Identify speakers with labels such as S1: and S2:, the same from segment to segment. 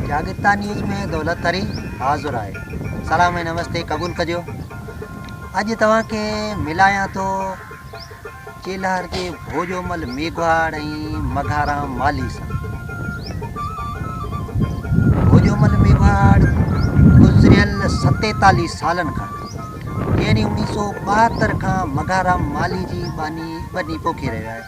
S1: جاڳرتا نيوز ۾ دولت تري حاضر آهي سلام ۽ نمستي قبول ڪجو اڄ توهان کي ملايان ٿو چيلهار جي ڀوڄومل ميگهواڙ ۽ مگهارام مالي سان ڀوڄومل ميگهواڙ گذريل ستيتاليس سالن کان يعني انيس سو ٻاهتر کان مگهارام مالي جي باني بني پوکي رهيو آهي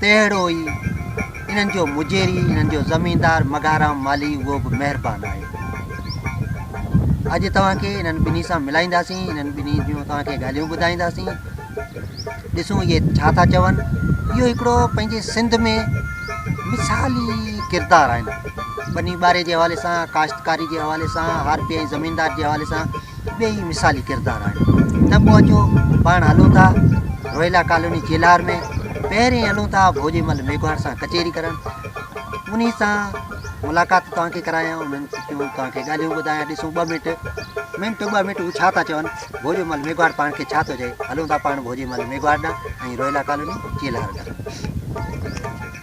S1: تهڙو ئي انهن جو مجيري، انهن جو زميندار مگهارام مالهي اهو به مهربان آهي. اڄ توهان کي انهن ٻنهي سان ملائينداسين، انهن ٻنهي جون توهان کي ڳالهيون ٻڌائينداسين. ڏسون اهي ڇا ٿا چون. اهو هڪڙو پنهنجي سنڌ ۾ مثالي ڪردار آهن. ٻني ٻاري جي حوالي سان، ڪاشتڪاري جي حوالي سان، هارپي ۽ زميندار جي حوالي سان ٻئي ئي مثالي ڪردار آهيو ته پوء اچو پاڻ هلون ٿا روهيلا ڪالوني چيلهار ۾ پهرين هلون ٿا ڀوڄي مل ميگهواڙ سان ڪچهري ڪرڻ انهي سان ملاقات توهانکي ڪرايان انهن ڪيون توهانکي ڳالهيون ٻڌايان ڏسون ٻه منٽ منٽ ٻ منٽ هو ڇا ٿا چون ڀوڄي مل ميگهواڙ پاڻ کي ڇا ٿو چئي هلون ٿا پاڻ ڀوڄي مل ميگهواڙ ڏانهن ۽ روهيلا ڪالوني چيلهار ڏانهن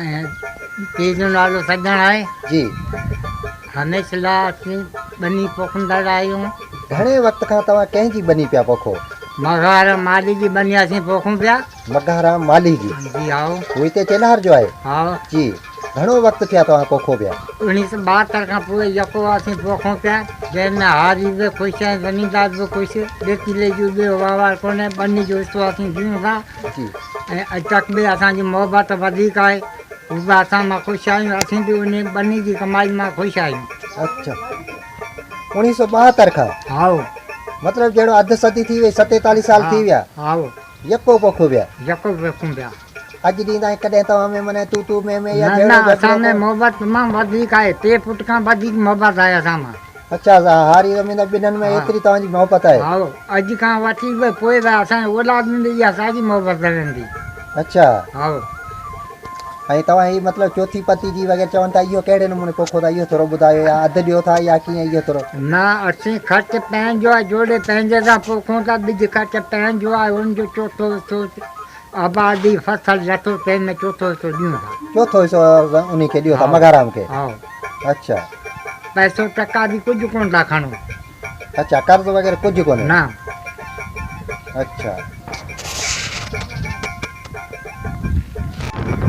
S1: ۽
S2: پيء جو نالو سڄڻ آهي جي
S1: هميشه
S2: لا اسين ٻني پوکندڙ آهيون گهڻي وقت
S1: کان توهان ڪنهن جي ٻني پيا پوکو مگهارام مالهي
S2: جي ٻني اسين پوکون پيا مگهارام مالهي
S1: جي جي هائو هو هتي
S2: چيلهار جو
S1: آهي هائو جي
S2: گهڻو
S1: وقت ٿيا توهان پوکو پيا انهيء سان ٻاهتر کان
S2: پوء يڪو اسين پوکون پيا جنهن ۾ هاري به خوش ۽ زميندار به خوش ڏيتيلي جو ٻيو وهنوار ڪونهي ٻني جو حصو اسين ڏيون ٿا جي ۽
S1: اڄ تڪ به اسان جي
S2: محبت وڌيڪ آهي هو به اسان مان خوش آهيون اسين به انهي ٻنهي جي ڪمائي مان خوش آهيون. اڇا
S1: اوڻيهه سؤ ٻاهتر کان هائو
S2: مطلب جهڙو
S1: اڌ صدي ٿي وئي ستيتاليهه سال ٿي ويا هائو يڪو
S2: پوکون
S1: پيا يڪو پوکون پيا.
S2: اڄ ڏينهن تائين
S1: ڪڏهن توهان ۾ منهن تون تون مين مين يا جهيڙو جهيڙو نه نه اسان ۾ محبت
S2: تمام وڌيڪ آهي ٽي فوٽ کان وڌيڪ محبت آهي اسان مان. اچا سا هاري
S1: زميندار ٻنهن ۾ ايتري توهان جي محبت آهي. هائو اڄ کان
S2: وٺي به پوء به اسان جي اولاد ۾ به اها ساڳي محبت رهندي. اچا.
S1: هائو. ۽ توهان هي مطلب چوٿي پتيجي وغيره چون ٿا اهو ڪهڙي نموني پوکو ٿا اهو ٿورو ٻڌايو يا اڌ ڏيو ٿا يا ڪيئن اهو ٿورو. نه اسين
S2: خرچ پنهنجو آهي جوڙي پنهنجي سان پوکون ٿا ٻج خرچ پنهنجو آهي ان جو چوٿو حصو آبادي فصل لٿو تنهن ۾ چوٿو حصو ڏيون ٿا. چوٿو حصو
S1: انهي کي ڏيو ٿا مگهارام کي. هائو. اڇا. پئسو
S2: ٽڪا به ڪجهه ڪونه ٿا کڻو. اڇا قرض
S1: وغيره ڪجهه ڪونهي. نه.
S2: اڇا.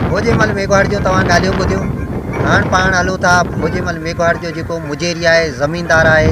S1: ڀوڄي مل ميگهواڙ جون توهان ڳالهيون ٻڌيون. هاڻ پاڻ هلون ٿا ڀوڄي مل ميگهواڙ جو جيڪو مجيري آهي زميندار آهي.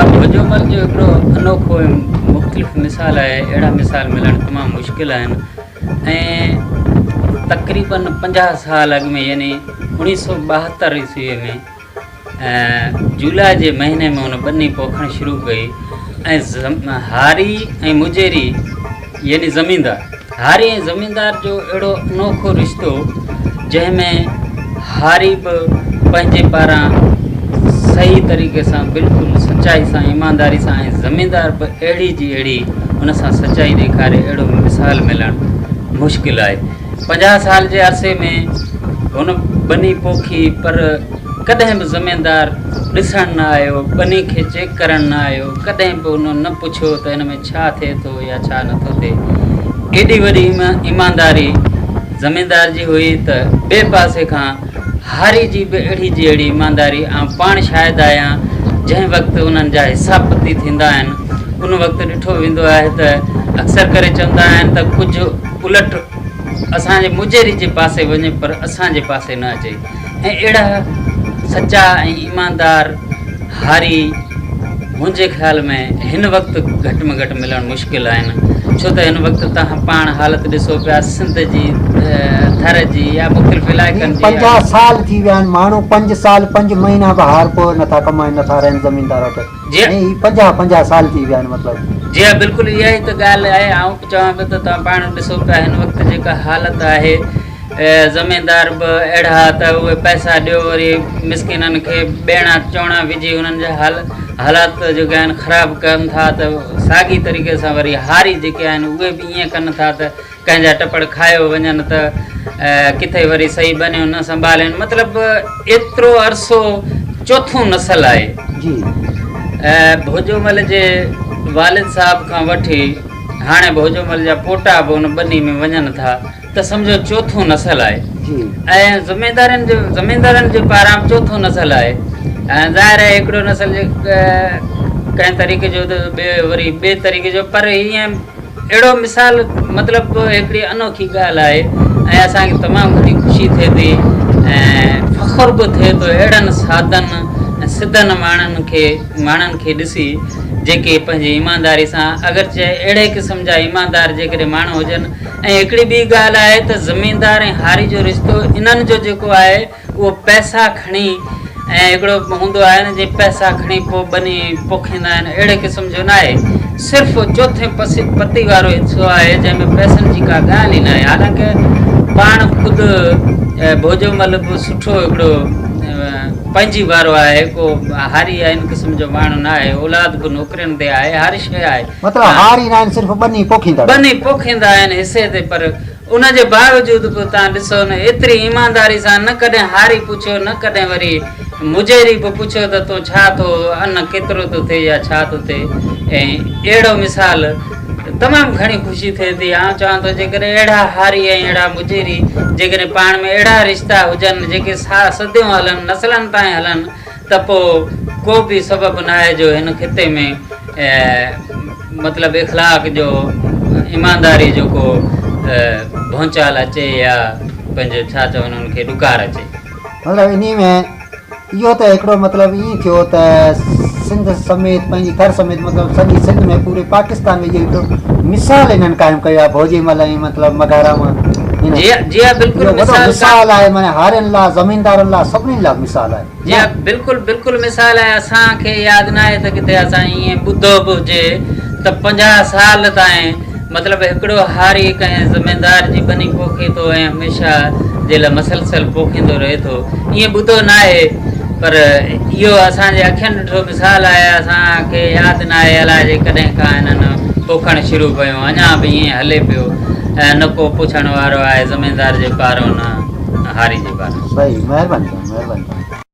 S3: اب هجومل جو هڪڙو انوکو ۽ مختلف مثال آهي، اهڙا مثال ملڻ تمام مشڪل آهن ۽ تقريباً پنجاهه سال اڳ ۾ يعني اوڻيهه سؤ ٻاهتر عيسويء ۾ جولاء جي مهيني ۾ ان ٻني پوکڻ شروع ڪئي ۽ هاري ۽ مجيري يعني زميندار هاري ۽ زميندار جو اهڙو انوکو رشتو جنهن ۾ هاري به پنهنجي پاران صحيح طريقي سان بلڪل سچائي سان ايمانداري سان ۽ زميندار به اهڙي جي اهڙي ان سان سچائي ڏيکاري اهڙو مثال ملڻ مشڪل آهي پنجاهه سال جي عرصي ۾ هن ٻني پوکي پر ڪڏهن به زميندار ڏسڻ نه آيو ٻني کي چيڪ ڪرڻ نه آيو ڪڏهن به ان نه پڇيو ته هن ۾ ڇا ٿئي ٿو يا ڇا نٿو ٿئي. ڪيڏي وڏي ايمانداري زميندار جي هئي ته ٻئي پاسي کان هاري جي به اهڙي جي اهڙي ايمانداري آئون پاڻ شاهد آهيان جنهن وقت انهن جا حساب پتي ٿيندا آهن ان وقت ڏٺو ويندو آهي ته اڪثر ڪري چوندا آهن ته ڪجهه الٽ اسان جي موجيري جي پاسي وڃي پر اسان جي پاسي نه اچي. ۽ اهڙا سچا ۽ ايماندار هاري منهنجي خيال ۾ هن وقت گهٽ ۾ گهٽ ملڻ مشڪل آهن ڇو ته هن وقت توهان پاڻ حالت ڏسو پيا سنڌ جي ٿر جي يا مختلف علائقن جي پنجاهه سال ٿي ويا
S1: آهن ماڻهو پنج سال پنج مهينا به هارپور نٿا ڪمائين نٿا رهن زميندار وٽ جي ها. هي پنجاهه
S3: پنجاهه سال
S1: ٿي ويا آهن مطلب. جي ها بلڪل
S3: اها ئي ته ڳالهه آهي آئون به چوان پيو ته توهان پاڻ ڏسو پيا هن وقت جيڪا حالت آهي زميندار به اهڙا ته اهي پئسا ڏيو وري مسڪينن کي ٻيڻا چوڻا وجهي انهن جا حال حالات جيڪي آهن خراب ڪن ٿا ته ساڳي طريقي سان وري هاري جيڪي آهن اهي به ائين ڪن ٿا ته ڪنهن جا ٽپڙ کايو وڃن ته ڪٿي وري صحيح ٻنيون نه سنڀالين مطلب ايترو عرصو چوٿون نسل آهي جي ڀوڄومل جي والد صاحب کان وٺي هاڻي ڀوڄومل جا پوٽا به ان ٻني ۾ وڃن ٿا ته سمجهو چوٿون نسل آهي جي ۽ زميندارن جو زميندارن جي پاران به چوٿون نسل آهي ۽ ظاهر آهي هڪڙو نسل جي ڪنهن طريقي جو ته ٻي وري ٻي طريقي جو پر ائين اهڙو مثال مطلب هڪڙي انوکي ڳالهه آهي ۽ اسان کي تمام گهڻي خوشي ٿئي ٿي ۽ فخر به ٿئي ٿو اهڙن سادن ۽ سڌن ماڻهن کي ماڻهن کي ڏسي جيڪي پنهنجي ايمانداري سان اگرچه اهڙي قسم جا ايماندار جيڪڏهن ماڻهو هجن ۽ هڪڙي ٻي ڳالهه آهي ته زميندار ۽ هاري جو رشتو انهن جو جيڪو آهي اهو پئسا کڻي ۽ هڪڙو هوندو آهي نه جي پئسا کڻي پوء ٻني پوکيندا آهن اهڙي قسم جو ناهي صرف چوٿين پتي وارو حصو آهي جنهن ۾ پئسن جي ڪا ڳالهه ئي ناهي حالانڪه پاڻ خود ڀوڄومل به سٺو هڪڙو پنهنجي وارو آهي ڪو هاري يا ان قسم جو ماڻهو ناهي اولاد به نوڪرين تي آهي هر شيء آهي مطلب هاري ناهن
S1: صرف ٻني پوکيندا ٻني پوکيندا
S3: آهن حصي تي پر ان جي باوجود به تان ڏسو نه ايتري ايمانداري سان نه ڪڏهن هاري پڇيو نه ڪڏهن وري مجهري به پڇيو ته تون ڇا ٿو ان ڪيترو ٿو ٿئي يا ڇا ٿو ٿئي ۽ اهڙو مثال تمام گهڻي خوشي ٿئي ٿي آئون چوان ٿو جيڪڏهن اهڙا هاري ۽ اهڙا مجهري جيڪڏهن پاڻ ۾ اهڙا رشتا هجن جيڪي سا صديون هلن نسلن تائين هلن ته پوء ڪو به سبب ناهي جو هن خطي ۾ مطلب اخلاق جو ايمانداري جو ڪو ڀونچال اچي يا پنهنجو ڇا چون انهن کي ڏڪار اچي. مطلب
S1: انهي ۾ اهو ته هڪڙو مطلب ائين ٿيو ته سنڌ سميت پنهنجي ٿر سميت مطلب سڄي سنڌ ۾ پوري پاڪستان ۾ اهو هڪڙو مثال انهن قائم ڪيو آهي ڀوڄي مل ۽ مطلب مگهارام جي جي
S3: ها بلڪل مثال آهي معنيٰ
S1: هارين لا زميندارن لا سڀني لا مثال آهي. جي ها بلڪل
S3: بلڪل مثال ۽ اسان کي ياد ناهي ته ڪٿي اسان ائين ٻڌو به هجي ته پنجاهه سال تائين مطلب هڪڙو هاري ڪنهن زميندار جي ٻني پوکي ٿو ۽ هميشه جي لاء مسلسل پوکيندو رهي ٿو ائين ٻڌو ناهي پر اهو اسان جي اکين ڏٺو مثال آهي اسان کي ياد ناهي الاء جي ڪڏهن کان هنن پوکڻ شروع ڪيو اڃا به ائين هلي پيو ۽ نه ڪو پڇڻ وارو آهي زميندار
S1: جي
S3: پارو نه هاري جي پارو. صحيح مهرباني سائين مهرباني سائين.